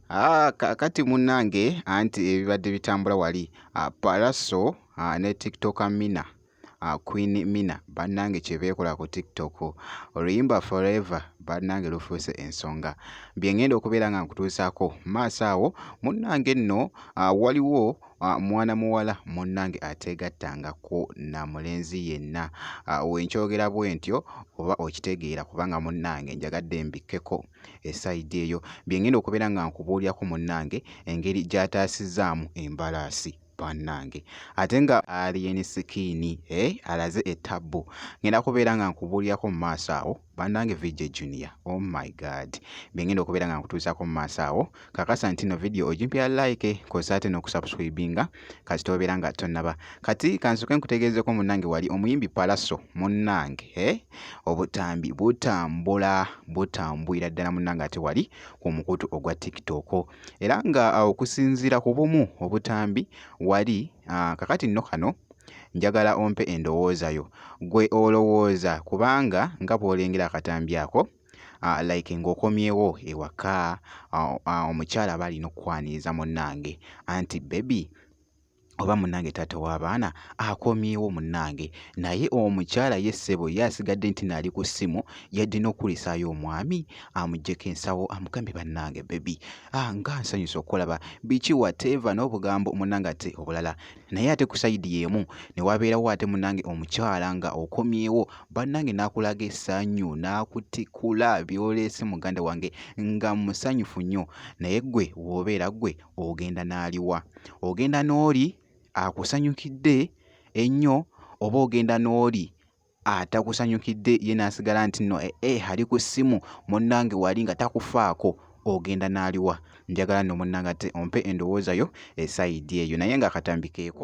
Ah, kakati munnange anti ebibadde bitambula wali ah, Pallaso ah, ne TikToker Mina Queen Mina bannange kye beekola ku TikTok oluyimba Forever bannange lufuuse ensonga bye ng'enda okubeera nga nkutuusaako maaso awo munnange nno waliwo Ah, mwana muwala munnange ateegattangako na mulenzi yenna ah, wenkyogera bwe ntyo oba okitegeera kubanga munnange njagadde mbikkeko esayidi eyo bye ngenda okubeera nga nkubuulirako munnange engeri gy'ataasizaamu embalaasi bannange ate nga aliyeni sikiini eh, alaze ettabbu ngenda kubeera nga nkubuulirako mu maaso awo banange VJ Junior oh my god bengenda okubeera nga nkutuusaako mu maaso awo kakasa nti no video ogimpira like kosa ate n'okusubscribinga kasita obeera nga tonnaba kati kansoke nkutegeezeko munange wali omuyimbi palaso munange eh? obutambi butambula butambwira ddala munange ate wali ku mukutu ogwa tiktok era nga okusinziira ku bumu obutambi wali ah, kakati nno kano Njagala ompe endowooza yo. Ggwe olowooza kubanga nga bw'olengera akatambi ako uh, like ng'okomyewo ewaka uh, uh, omukyala aba alina okukwaniriza munnange anti bebi oba munange taata w'abaana akomyewo munange naye omukyala ye ssebo ye asigadde nti naali ku ssimu yadde n'okukulisaayo omwami amugyeko ensawo amugambe bannange bebi ah, nga nsanyusa okukulaba biki wateeva n'obugambo munange ate obulala naye ate ku sayidi y'emu ne wabeerawo ate munange omukyala nga okomyewo bannange n'akulaga essanyu n'akutikula byoleese muganda wange nga musanyufu nnyo naye ggwe w'obeera ggwe ogenda n'aliwa ogenda n'oli akusanyukidde ennyo oba ogenda n'oli atakusanyukidde ye n'asigala nti no ee eh, eh, ali ku ssimu munnange wali nga takufaako ogenda n'aliwa njagala nno munnange ate ompe endowooza yo esayidi eyo naye nga akatambikeeko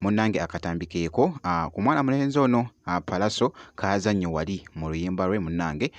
munnange akatambi keeko ku mwana mulenzi ono palaso kaazannyo wali mu luyimba lwe munnange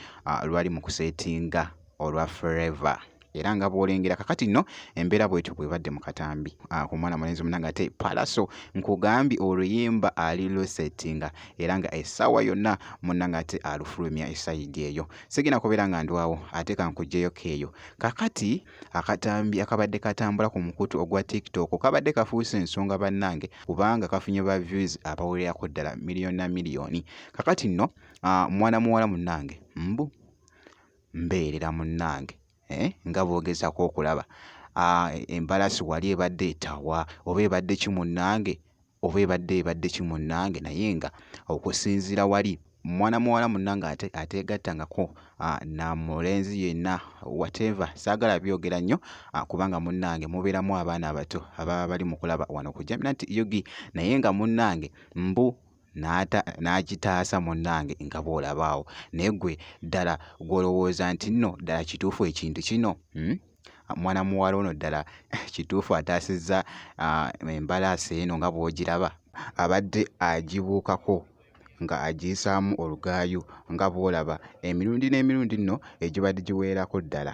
lwali mu kuseetinga olwa forever era nga bwolengera kakati nno embeera bwetyo bwebadde mu katambi ah, ku mwana mulenzi munange ate palaso nkugambye oluyimba ali lusettinga era nga essaawa yonna munange ate alufulumya esayidi eyo sigina kubeera nga ndwawo ate kankugjeyo keeyo kakati Akatambi akabadde katambula ku mukutu ogwa TikTok kabadde kafuuse ensonga bannange kubanga kafunye ba views abawererako ddala miliyoni na miliyoni. Kakati nno ah, mwana muwala munnange mbu mbeerera munnange eh, nga boogezako okulaba ah, embalasi wali ebadde etawa oba ebadde ki munnange oba ebadde ebadde ki munnange naye nga okusinziira wali mwana muwala munnange ate ateegattangako na mulenzi yenna whatever saagala byogera nnyo kubanga munnange mubeeramu abaana abato ababa bali mu kulaba wano ku jaminant ug naye nga munnange mbu n'agitaasa munnange nga bw'olabaawo naye ggwe ddala gw'olowooza nti nno ddala kituufu ekintu kino hmm? mwana muwala ono ddala kituufu ataasizza embalaasi eno nga bw'ogiraba abadde agibuukako nga agiyisaamu olugaayu nga bw'olaba emirundi n'emirundi nno egibadde giweerako ddala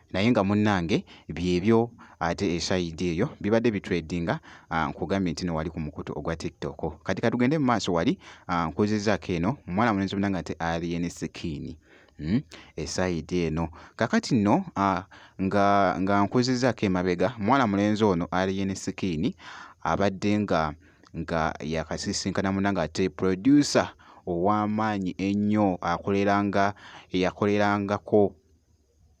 naye nga munnange byebyo ate esayidi eyo bibadde bitredinga ah, nkugambye nti no wali ku mukutu ogwa tiktok kati katugende mu maaso wali ah, nkuzizaako eno muwala mulenzi munange ate alien skin hmm? esayidi eno kakati no ah, nga, nga nkuzizaako emabega muwala mulenzi ono alien skin abadde nga nga yakasisinkana munange ate producer ow'amaanyi ennyo akoleranga eyakolerangako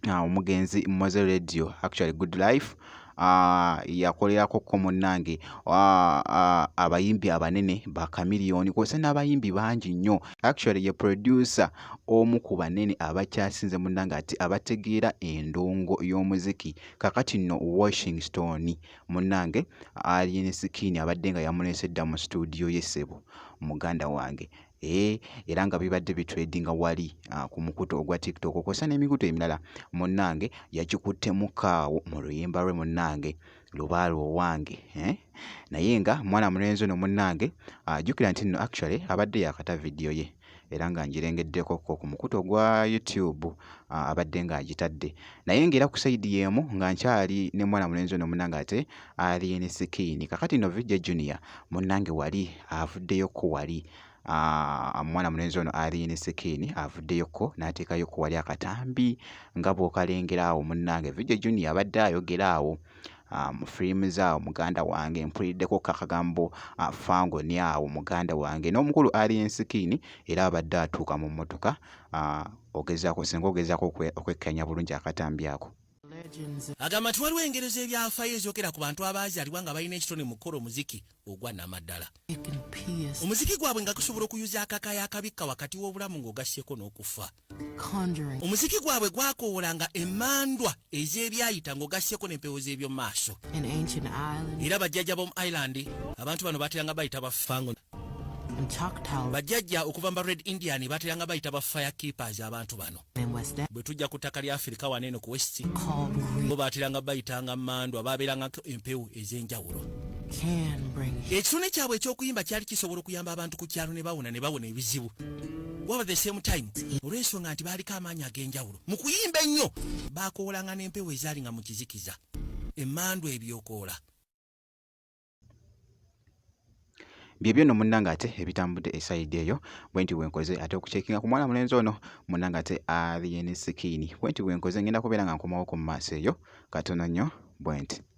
uh, omugenzi moze radio actually good life uh, yakolerako ko munnange uh, uh, abayimbi abanene ba kamiliyoni kwose n'abayimbi bangi nnyo actually ye producer omu ku banene abakyasinze munnange ati abategeera endongo y'omuziki kakati nno washington munnange alien skin abadde nga yamuleese dda mu situdiyo ye ssebo muganda wange Eh, era nga bibadde bitredinga wali ah, ku mukutu ogwa tiktok kwosa n'emikutu emirala munnange yakikuttemu kaawo mu luyimba lwe munnange lubaale owange eh? naye nga mwana mulenzi ono munnange ajjukira ah, nti nno actually abadde yakata vidiyo ye era nga ngirengeddeko ko ku mukutu ogwa youtube ah, abadde ng'agitadde naye ng'era ku sayidi y'emu nga nkyali ne mwana mulenzi ono munnange ate Alien Skin. Kakati no VJ Junior munnange wali avuddeyoko wali omwana ah, mulenzi ono Alien Skin avuddeyoko n'ateekayoko wali akatambi nga bw'okalengera awo munnange VJ Junior abadde ayogera awo ah, mu firimu zaawo muganda wange mpuliddeko kakagambo ah, fangoni awo muganda wange n'omukulu Alien Skin era abadde atuuka mu mmotoka ogezaako singa ogezaako okwekkanya bulungi akatambi ako. agamba nti waliwo engero z'ebyafaayo ezookera ku bantu abaazaalibwa nga balina ekitone mu kukola omuziki ogwa namaddala omuziki gwabwe nga gusobola okuyuza akaka yakabikka wakati w'obulamu ng'ogasseeko n'okufa omuziki gwabwe gwakoowolanga emandwa ez'ebyayita ng'ogasseeko n'empewo z'ebyomumaaso era bajjaja b'omu ireland abantu bano bateranga bayita bafango bajjajja okuva mu ba red indian bateranga bayita ba fire keepers abantu bano bwe tujja ku ttaka lya afirika wano eno ku west bo bateranga bayitanga mandwa babeerangako empewo ez'enjawulo ekitone kyabwe eky'okuyimba kyali kisobola okuyamba abantu ku kyalo ne bawona ne bawona ebizibu waba the same time olw'ensonga nti baaliko amaanyi ag'enjawulo mu kuyimba ennyo baakoolanga n'empewo ezaali nga mu kizikiza emmandwa ebyokoola byebyo no munanga ate ebitambudde esayidi eyo bwenti bwenkoze ate okucekinga ku mwana mulenzi ono munanga ate alien sikini bwenti bwenkoze ngenda kubeera nga nkomawo ku maaso eyo katono nnyo bwenti